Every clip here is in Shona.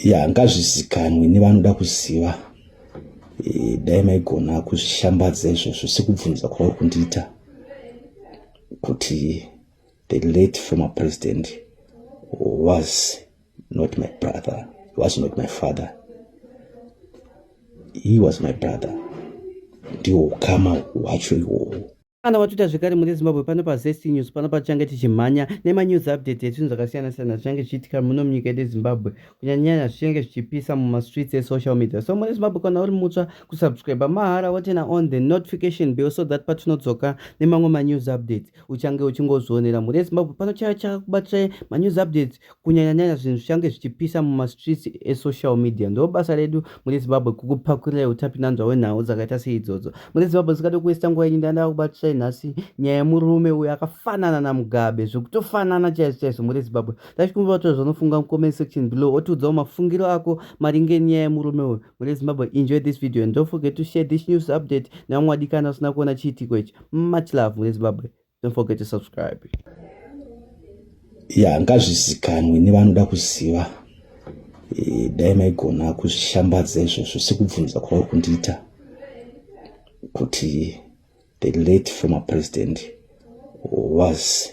ya ngazvizikanwe nevanoda kuziva e, dai maigona kuzvishambadza izvozvo sekubvunza kwauri kundiita kuti the late former president was not my brother was not my father he was my brother ndiwo ukama hwacho iwowo Kana watuta zvekare muri Zimbabwe pano pa Zest News pano patichange tichimhanya nema news update yezvinhu zvakasiyana siyana zvichange zvichiitika muno munyika yedu Zimbabwe kunyanyanya zvichange zvichipisa muma streets e social media so muri Zimbabwe kana uri mutsva kusubscribe mahara wotena on the notification bell so that patinodzoka nemamwe ma news updates uchange uchingozvionera muri Zimbabwe pano chaya chakubatai ma news updates kunyanyanyanya zvinhu zvichange zvichipisa mumastreets esocial media ndo basa redu mune zimbabwe kukupakurirei utapinanzwa hwenhau dzakaita seidzodzo mune zimbabwe zikada kuwesta nguva yenyu ndandava kubatisai nhasi nyaya yemurume uyo akafanana namugabe zvekutofanana chaizvo chaizvo mune zimbabwe tachikumbira to zvanofunga mucomment section below otiudzawo mafungiro ako maringe nyaya yemurume uyo mune zimbabwe enjoy this video and don't forget to share this news update nevamwe wadikana usina kuona chiitiko ichi much love mune zimbabwe don't forget to subscribe ya ngazvizikanwe nevanoda kuziva e, dai maigona kuzvishambadza izvozvo sekubvunza kwauri kundiita kuti the late former president was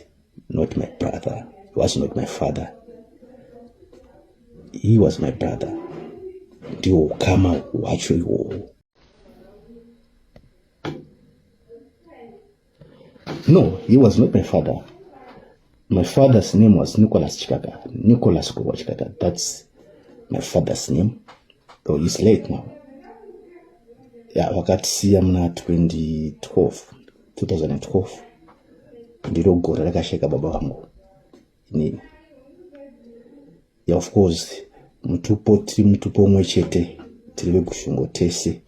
not my brother was not my father he was my brother ndiwo ukama hwacho iwowo No, he was not my father. My father's name was Nicholas Chikaka. Nicholas Kuwa Chikaka. That's my father's name. Though he's late now. Yeah, vakatisiya muna 2012 2012 ndiro gore rakasheka baba vangu inini ya of course mutupo tiri mutupo umwe chete tiri vekushungo tese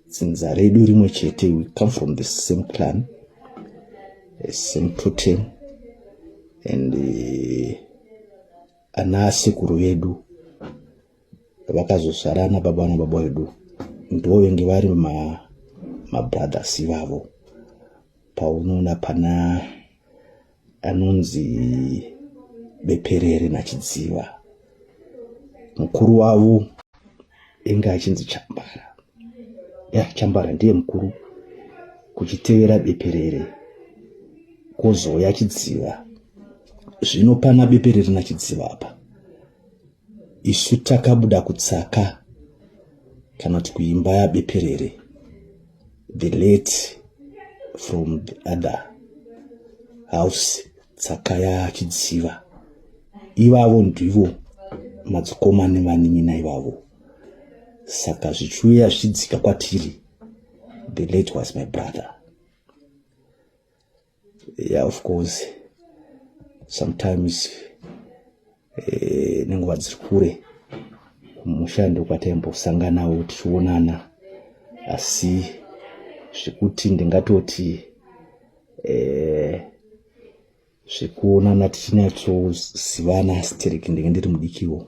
dzinza redu rimwe chete we come from the same clan the same protein and uh, ana asekuru vedu vakazozvarana baba na baba vedu ndivo venge vari ma mabrothers ivavo paunoona pana anonzi beperere nachidziva mukuru wavo inga achinzi chambara ya chambara ndiye mukuru kuchitevera beperere kozouya chidziva zvino pana beperere nachidziva apa Isu takabuda kutsaka kana kuti kuimba yabeperere the late from the other house tsaka yachidziva ivavo ndivo madzikoma nevanin'ina ivavo saka zvichiuya zvichidzika kwatiri the late was my brother Yeah, of course sometimes eh, nenguva dziri kure kumusha ndokwataimbosanganawo tichionana asi zvekuti ndingatoti eh, zvekuonana tichinyatsozivana stereki ndenge ndiri mudikiwo